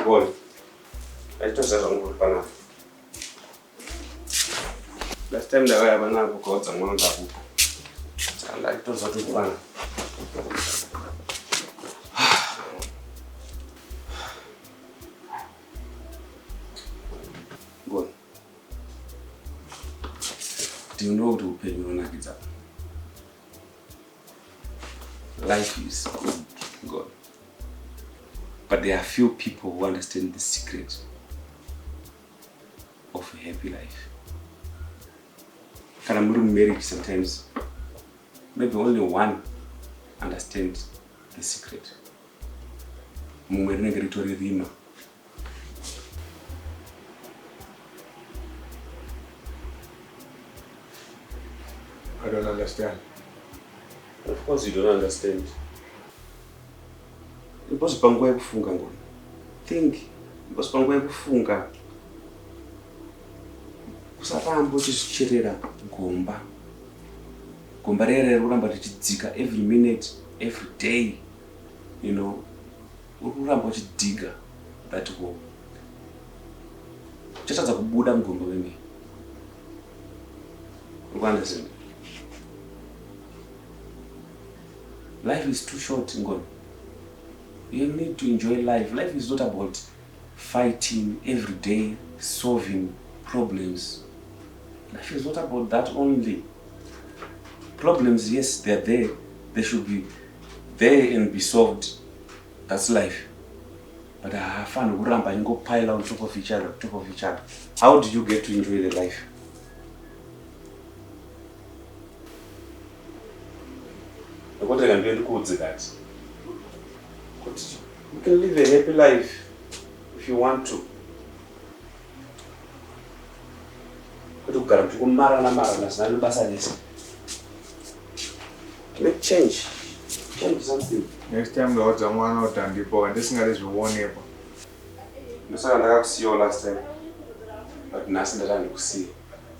Ngoni. Aitoziva zvangu kuti panapa. Last time ndakaya panapa ukaudza mwana ndakupa. Saka ndaitoziva kuti pana. Ngoni. ndinoda kuti upenyu hunonakidza life is good god but there are few people who understand the secret of a happy life kana muri mumarriage sometimes maybe only one understand the secret mumwe rinenge ritori rima I don't understand. Of course you don't understand. Ndiposi panguva yekufunga ngoni. Think. Ndiposi panguva yekufunga. Usaramba uchizocherera gomba. Gomba rere riri kuramba richidzika every minute, every day. You know. Uri kuramba uchidhiga that hole. Uchatadza kubuda mugomba wemene. Uri kuunderstand? Life is too short, Ngoni. You need to enjoy life. Life is not about fighting every day, solving problems. Life is not about that only. Problems, yes, they are there. They should be There and be solved that's life but haafanirwi kuramba achingo pile on top of each other on top of each other how did you get to enjoy the life nekuti rega ndiye ndikuudze kati kuti you can live a happy life if you want to Kuti kugara kuti kumarana marana zina nebasa rese. Make change. Change something. Next time ndaudza mwana kuti andipo handisingade zvionekwa. Ndosaka ndakakusiyawo last time. But nhasi ndati handikusiye.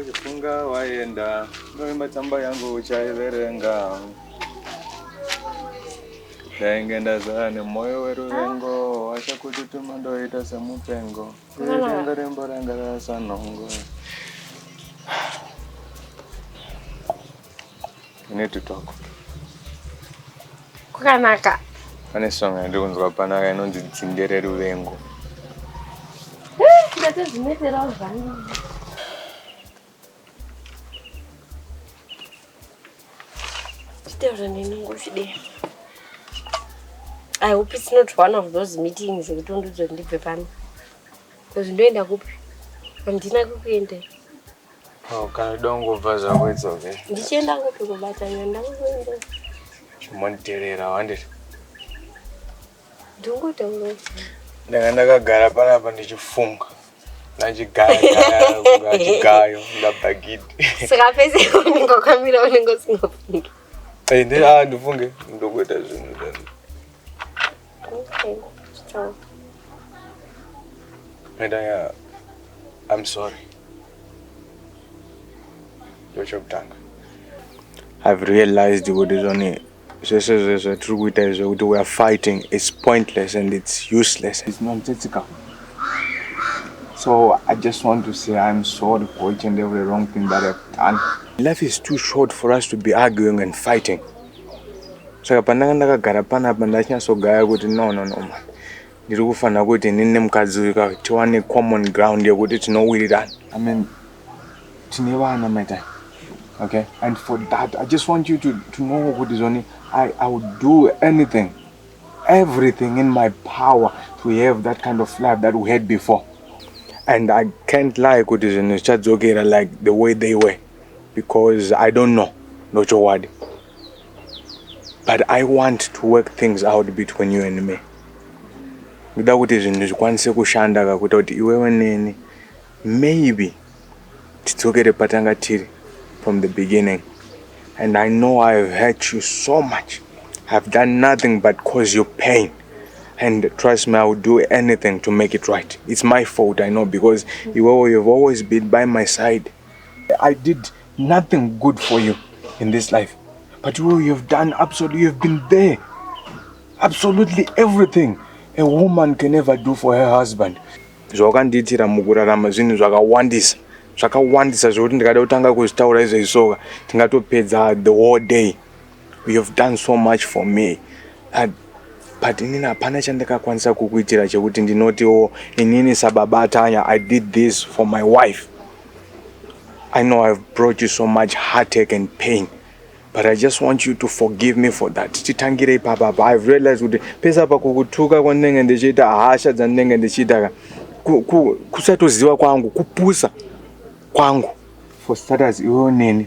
uchifunga waenda ndoimba tsamba yangu uchaiverenga Ndainge ndazara nemwoyo weruvengo Washa kututuma ndoita semupengo Ruvengo rembo ranga rarasa nhongo We need to talk Kukanaka Pane song yandiri kunzwa panaka inonzi dzinde reruvengo Ndate zvineterawo zvangu Chitaura neni ngochidei. I hope it's not one of those meetings ekuti undiudze kuti ndibve pano. Because ndoenda kupi? Handina kukuenda. Oh, kana dongobva zvako it's okay. Ndichienda kupi kubatana ndangoenda. Chimonditerera wandiri. ndanga ndakagara panapa ndichifunga nachigayo ndabhagidi saka pese unenge wakamira unenge usingafungi ah, ndifunge ndokuita zvinhu zvangu Medaya, I'm sorry. Ndochokutanga. I've realized kuti zvone Zvese zve zvatiri kuita izvi zvekuti we are fighting it's pointless and it's useless. It's nonsensical. So I just want to say I'm sorry for each and every wrong thing that I've done. Life is too short for us to be arguing and fighting. Saka pandanga ndakagara panapa ndachinyasogaya kuti no no no man. Ndiri kufanira kuti inini nemukadzi uyu ka tiwane common ground yekuti tinowirirana. I mean tine vana Maitai. Okay and for that I just want you to, to know kuti zvoni I, I would do anything everything in my power to have that kind of life that we had before and I can't lie kuti zvinhu zvichadzokera like the way they were because I don't know ndochokwadi but i want to work things out between you and me ndoda kuti zvinhu zvikwanise kushanda kakuita kuti iwewe neni maybe tidzokere patanga tiri from the beginning and i know i have hurt you so much i have done nothing but cause you pain and trust me i will do anything to make it right it's my fault i know because iwewe you've always been by my side i did nothing good for you in this life but you, you have done absolutely, you have been there absolutely everything a woman can ever do for her husband zvawakandiitira mukurarama zvinhu zvakawandisa zvakawandisa zvekuti ndikada kutanga kuzvitaura izvezvi soka tingatopedza the whole day You have done so much for me but, but inini hapana chandakakwanisa kukuitira chekuti ndinotiwo inini sababa Tanya I did this for my wife I know I've brought you so much heartache and pain but I just want you to forgive me for that titangire ipapa pa I've realized kuti pesa pa kukutuka kwandinenge ndichiita hasha dzandinenge ndichiita ka kusatoziva kwangu kupusa kwangu for status iwewo neni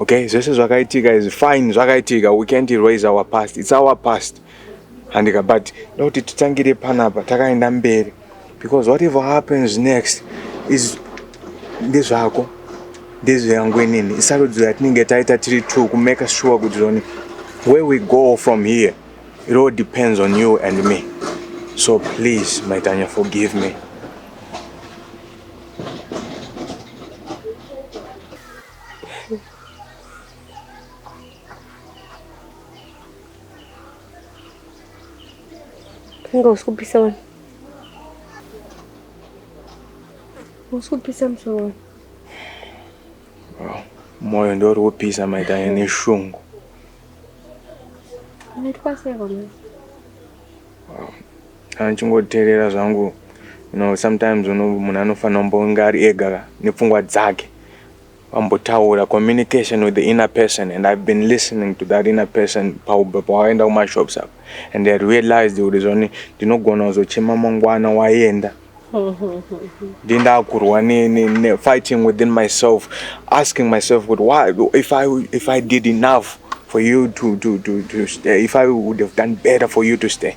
Okay, zvese zvakaitika izvi fine zvakaitika we can't erase our past it's our past handika but ndokuti titangire panapa takaenda mberi because whatever happens next is ndezvako ndezveyangu inini isarudzo yatinenge taita tiri two kumake sure kuti zoni where we go from here it all depends on you and me so please maitanya forgive me Inga usikupisa wena. Usikupisa musoro wena. Moyo ndiwo uri kupisa maita ine shungu. Unaitwa sei kwa mwana? Kana ndichingoteerera zvangu you know sometimes uno munhu anofanira kumbonge ari ega ka nepfungwa dzake vambotaura communication with the inner person and i've been listening to that inner person pauba pawaenda kumashops apa and i realized kuti zvani ndinogona kuzochema mangwana waenda ndindakurwa nefighting within myself asking myself kuti why if i if i did enough for you to, to, to, to stay, if I would have done better for you to stay.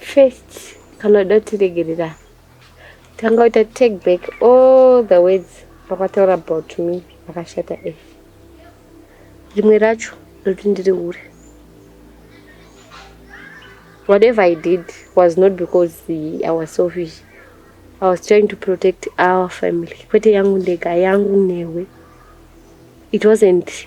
First, kana uda kuti regerera, tanga uita take back all the words vakataura about me vakashata e. Rimwe racho ndokuti ndiri hure. Whatever I did was not because I was selfish. I was trying to protect our family. Kwete yangu ndega, yangu newe. It wasn't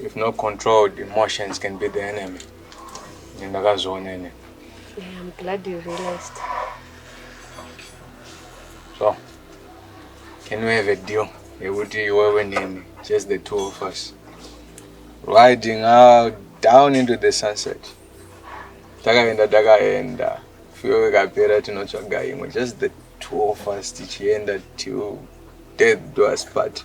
If not controlled, emotions can be the enemy. Ndakazviona ini. Yeah, I'm glad you realized. So, can we have a deal? Yekuti iwewe nini, just the two of us. Riding out down into the sunset. Takaenda takaenda. Fuyo ikapera tinotsvaga imwe. Just the two of us tichienda till death do us part.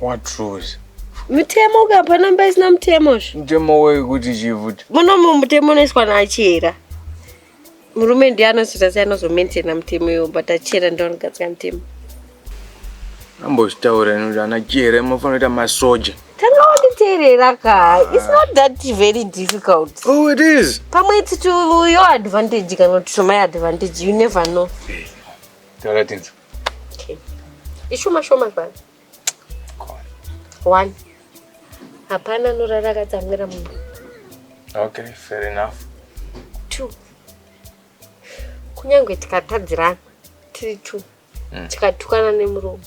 What rules? Mutemo ka hapana mba isina mutemo zvo. Mutemo weyi kuti chii futi? Muno mutemo unoiswa naachera. Murume ndiye anozoita sei anozomaintaina mutemo iwo but achera ndiye anogadzira mutemo. Ambozvitaura ino kuti ana chera munofanira kuita masoja. Tanga wanditeerera ka. It's not that very difficult. Oh it is. Pamwe it's to your advantage kana kuti to my advantage. You never know. Hey. Taura tinzwe. ishoma shoma zvana one hapana anorara akatsamwira munhu okay fair enough two kunyange tikatadzirana tiri two mm. tikatukana nemuromo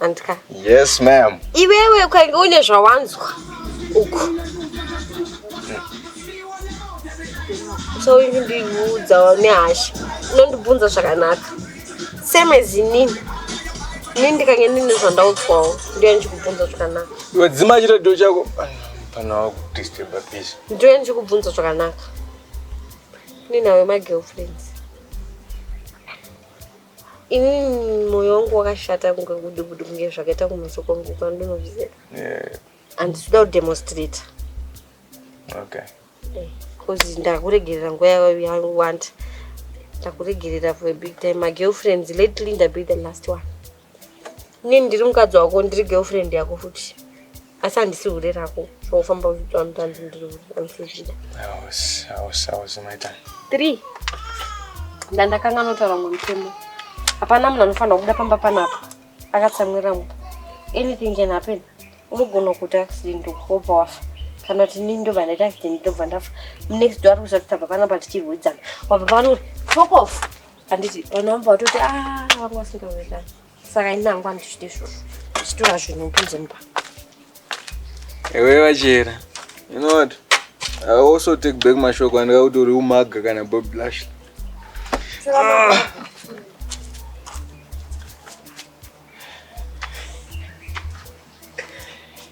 Andika. Yes ma'am. Iwewe ukange une zvawanzwa uku. So uyu ndiudzawo nehasha. Unondibvunza zvakanaka. Same as inini. Ini ndikange ndine zvandaudzwawo ndiye ndichikubvunza zvakanaka. Iwe dzima chiredio chako pana wakudisturba please. Ndiye ndichikubvunza zvakanaka. Ninawe ma girlfriends. Ini moyo wangu wakashata kunge kudubudu kunge zvakaita kumeso kwangu kwandinozviziva. Yeah. And sida kudemonstrate. Okay. Eh, cause ndakuregerera nguva yawanda. Ndakuregerera for a big time. My girlfriends lately ndabe the last one. Nini ndiri mukadzi wako ndiri girlfriend yako futi. asi handisi hure rako zvokufamba uchiitwa mutanzi ndiri hure andisizvida three ndandakanga notaura mumwe mutemo hapana munhu anofanira kubuda pamba panapa akatsamwira mu anything can happen unogona kuita accident wobva wafa kana kuti nini ndobva ndaita accident ndobva ndafa munext do ari kusati tabva panapa tichirwidzana wabva pano tokof handiti vanhu vamba vatoti a ah, vanga vasingaoekani saka ini hangu andichiti izvozvo ndichitora zvinhu kunze mba ewe vachera you know what i also take back mashoko andika kuti uri umaga kana bob blush ah.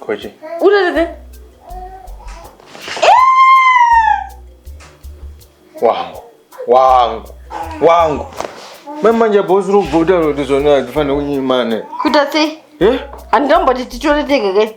Kochi. Utatete. Wangu. Wangu. Wangu. Mamanja boss ro bota ro tizona tifane kunyimane. Kuita sei? Eh? Andombo titore tege ke.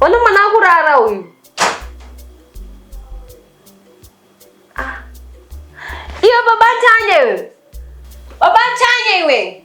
Wani mwana akurara uyu. Ah. Iyo baba Tanya iwe. Baba Tanya iwe.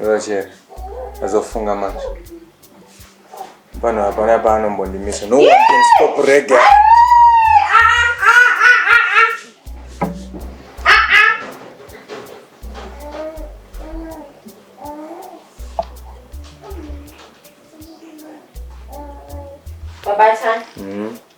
Roger, azofunga manje. Pano hapana paanombondimisa. No one can stop reggae. Baba Chan. Mm.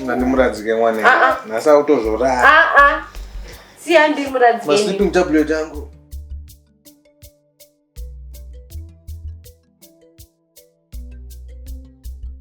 ndandimuradzike mwana ah, ah. nhasi akutozorara ah, siya ndimuradzike masleeping tablet angu